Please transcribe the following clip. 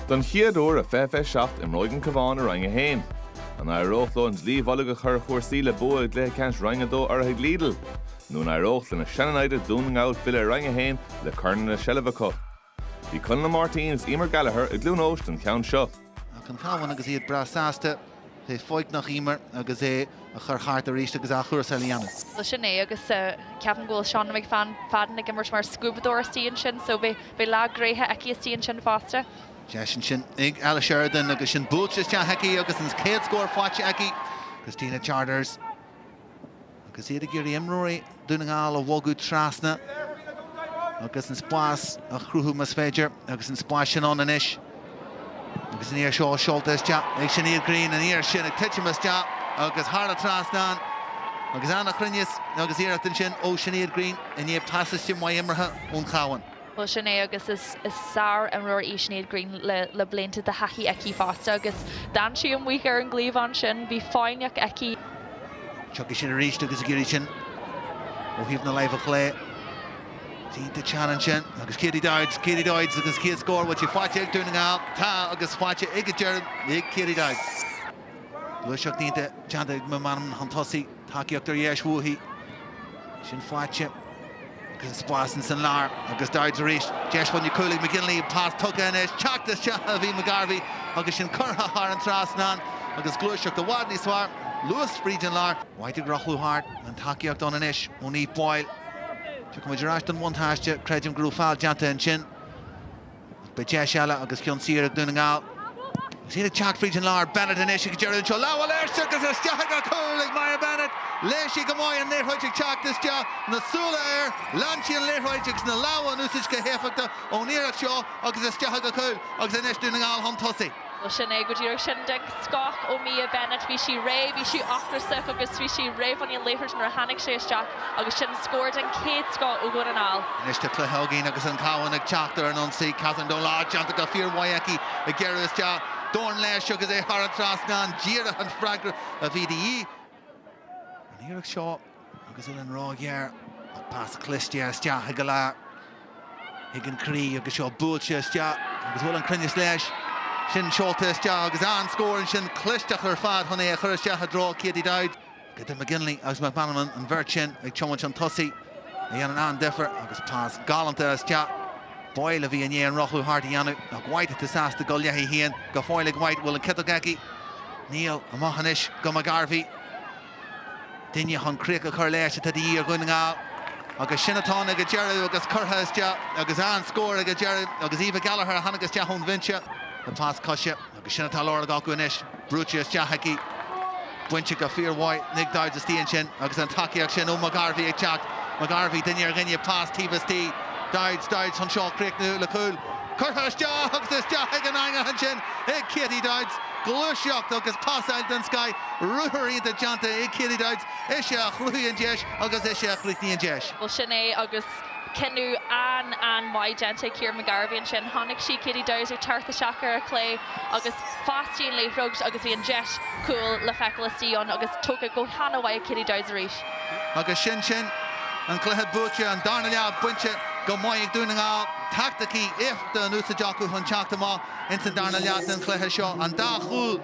Don chéad uair i 2027 imreoidh an Cabhán i Roinn 1. An éireoidh leo an dlaoi mhullaigh a chur ar chúrsaí le bua i gcluiche ceannais Roinn 2 urraithe ag Lidl? Nó an éireoidh lena sean-naimhde Dún na nGall filleadh ar Roinn 1 le corn ina seilbh acu? Bhí Conall Ó Máirtín is Emer Gallagher i gCluain Eois don cheann seo. Ach an Cabhán agus iad breá sásta a bheith foighneach Emer agus é a chur thart arís agus athchúrsáil a dhéanamh. Bhuel sin é agus ceapaim go bhfuil Shauna McFadden ag imirt mar scuabadóir istigh ansin so beidh lá gnóthach aici istigh ansin fosta. Deis ansin ag Ella Sheridan agus sin buailte isteach aici agus an chéad scór faighte aici. Christina Charters. Agus iad ag iarraidh imreoirí Dhún na nGall a bhogadh trasna agus an spás a chruthú más féidir agus an spás sin ann anois agus an iarraidh seo seolta isteach ag Sinéad Greene, an iarraidh sin ag titim isteach agus thar an trasnán agus an-chruinneas agus iarracht ansin ó Sinéad Greene i ndiaidh pasáiste maith imeartha ón Chabhán. Bhuel, sin é agus is sár-imreoir í Sinéad Greene le blianta de thaithí aici fosta agus d'fhan sí amuigh ar an gcliabhán sin. Bhí foighneach aici. Tiocfaidh sin arís agus ag iarraidh sin ó thaobh na láimhe chlé. Déanta isteach ansin agus Katie Dowds, Katie Dowds agus an chéad scór, bhfuil sé faighte ag Dún na nGall? Tá agus faighte ag an deireadh ag Katie Dowds. Gluaiseacht déanta ag McManamon chun tosaigh. Tacaíocht ar dheis uaithi. Sin faighte agus an spás ins an lár agus Dowds arís. Deis fá choinne cúil ag McGinley. An pas tugtha anois. Teacht isteach a bhí McGarvey agus sin curtha thar an trasnán agus gluaiseacht i bhfad níos fearr, luas fríd an lár. White ag rothlú thart. An tacaíocht ann anois ó Niamh Boyle. Tiocfaidh muid ar ais don bhuntáiste. Creidim go raibh feall déanta ansin. Beidh deis eile agus ceann saor ag Dún na nGall agus iad ag teacht fríd an lár. Bennett anois ag iarraidh anseo lámh a fháil air agus isteach ag an chúl ag Mia Bennett. Léigh sí go maith an liathróid ag teacht isteach, na súile air, lean sí an liathróid agus na lámha in úsaid go héifeachtach ón iarracht seo agus isteach ag an chúl agus anois Dún na nGall chun tosaigh. Bhuel, sin é, go díreach sin. Den scoth ó Mia Bennett, bhí sí réidh, bhí sí ocrasach agus bhí sí réidh fá choinne an liathróid nuair a tháinig sé isteach agus sin scór den chéad scoth ó Dhún na nGall. Anois tá cluiche againn agus an Cabhán ag teacht ar an ionsaí. Catherine Dolan, déanta go fíor mhaith aici ag gearradh isteach. Dorn leis agus é thar an trasnán. Díreach an freagra a bhí de dhíth an iarracht seo. Agus bhfuil an rogha ghearr ach pas cliste isteach ag Gallagher. Thig an croí agus seo buailte isteach agus bhfuil an cruinneas leis. Sin seolta isteach agus an-scór ansin. Clisteacht ar fad chun é a chur isteach i dtreo Katie Dowds go dtí McGinley agus McManamon an bheirt sin ag tiomáint chun tosaigh a dhéanann an-difear agus pas galánta isteach. Boyle a bhí i ndiaidh an rothlú thart a dhéanamh ach White atá sásta dul léi féin go fóill ag White. Bhfuil an ciotóg aici? Níl. Amach anois go McGarvey. Duine chun críoch a chur leis atá de dhíth ar Dhún na nGall agus sin atá ann ag an deireadh agus curtha isteach agus an scór ag an deireadh agus Eva Gallagher a tháinig isteach ón bhinse le pas coise agus sin atá lárnach acu anois. Brúite isteach aici, bainte go fíormhaith, ag Dowds istigh ansin agus an tacaíocht sin ó McGarvey ag teacht. McGarvey, duine ar dhuine, pas taobh istigh, Dowds, Dowds chun seo a chríochnú le cúl. Curtha isteach agus isteach ag an eangach ansin ag Katie Dowds. Gluaiseacht agus pas eile den scoth. ruathar iontach déanta ag Katie Dowds, ise a chruthaigh an deis agus ise a chríochnaigh an deis. Bhuel sin é agus cinneadh an-an-mhaith déanta ag Ciara McGarvey ansin. Chonaic sí Katie Dowds ag teacht isteach ar a clé agus phasáil sí an liathróid agus bhí an deis cúil le feiceáil istigh ann agus tógtha go han-mhaith ag Katie Dowds arís. Agus sin sin, an cluiche buaite, an darna leath bainte go maith ag Dún na nGall. Taicticí éifeachtacha in úsaid acu chun teacht amach ins an darna leath den chluiche seo. An dá chúl.